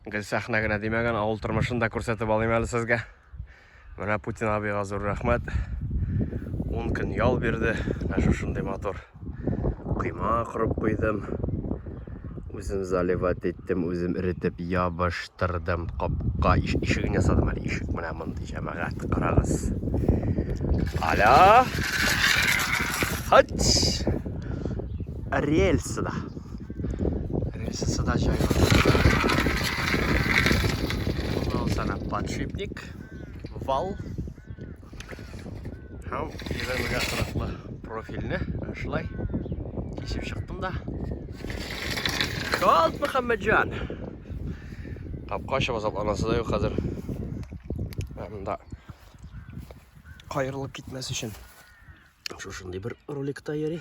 Гел сәхнә генә димәгән, авыл тормышын да күрсәтеп алыйм әле сезгә. Менә Путин абыйга зур рәхмәт. 10 көн ял бирде. Менә шушындый матур койма корып куйдым. Үзем заливать иттем, үзем эретеп ябыштырдым. Капка иш, ишеген ясадым әле ишек. Менә мондый җәмәгать, карагыз. Аля! Хач! Рельсы да. Рельсасы да җайлы. Бу сана подшипник, вал. Һәм егермегә кырыклы профильне шулай кисеп чыктым да. Шалт Мөхәммәтҗан! Капка ачып азапланасы да юк хәзер. Анда кайырылып китмәс өчен шушындый бер роликта йөри.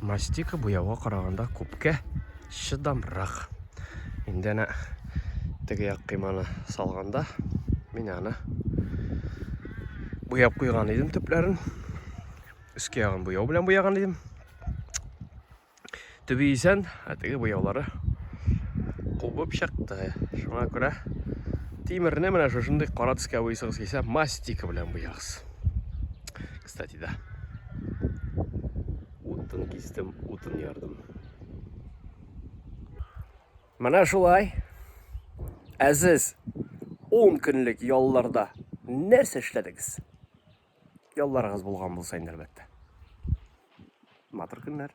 Мастика буяуга караганда күпкә чыдамрак. Инде әнә теге як кыйманы салганда мин аны буяп куйган идем төпләрен. Өскә ягын буяу белән буяган идем. Төбе исән, ә теге буяулары кубып чыкты. Шуңа күрә тимерне менә шушындый кара төскә буйсыгыз килсә, мастика белән буягыз. Кстати, да. Утын кистем, утын ярдым. Менә шулай. Әзиз 10 көнлек ялларда нәрсә эшләдегез? Ялларыгыз булган булса инде әлбәттә. Матур көннәр.